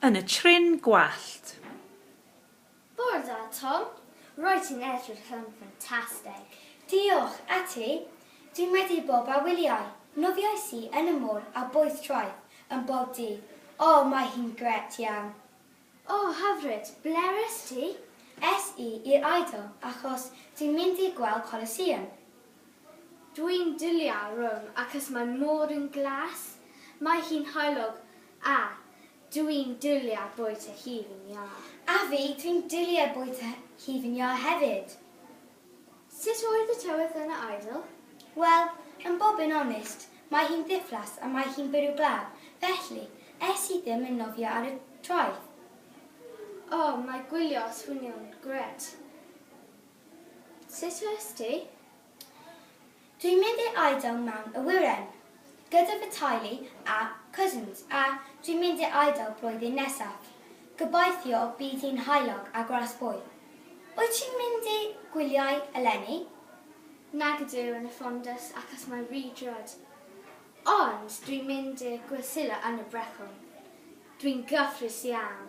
yn y trin gwallt. Bore da Tom, roedd ti'n edrych yn ffantastig. Diolch, a ti? Dwi'n medru bob a wyliau. Nofiais i yn y môr a boeth troed yn bob dydd. O, mae hi'n gret iawn. O, hyfryd! Ble est ti? Es i i'r Eidal achos ti'n mynd i gweld Colosseum. Dwi'n dwlio Rome acos mae môr yn glas, mae hi'n heulog a dwi'n dwlio bwyta hufen iâ. A fi, dwi'n dwlio bwyta hufen iâ hefyd. Sut oedd y tywydd yn y Eidal? Wel, yn bob yn onest, mae hi'n ddiflas a mae hi'n bwrw glaw, felly, es i ddim yn nofio ar y traeth. O, mae gwylio ar swnio'n gret. Sut oes ti? Dwi'n mynd i'r Eidal mewn awyren, gyda fy teulu a cousins, a dwi'n mynd i'r Eidal blwyddyn nesaf. Gobeithio bydd hi'n haelog a gras boi. Wyt ti'n mynd i gwyliau eleni? Nag ydw yn y ffondus achos mae rhy drud. Ond dwi'n mynd i'r Gwrsillo yn y Brecon. Dwi'n gyffrous iawn.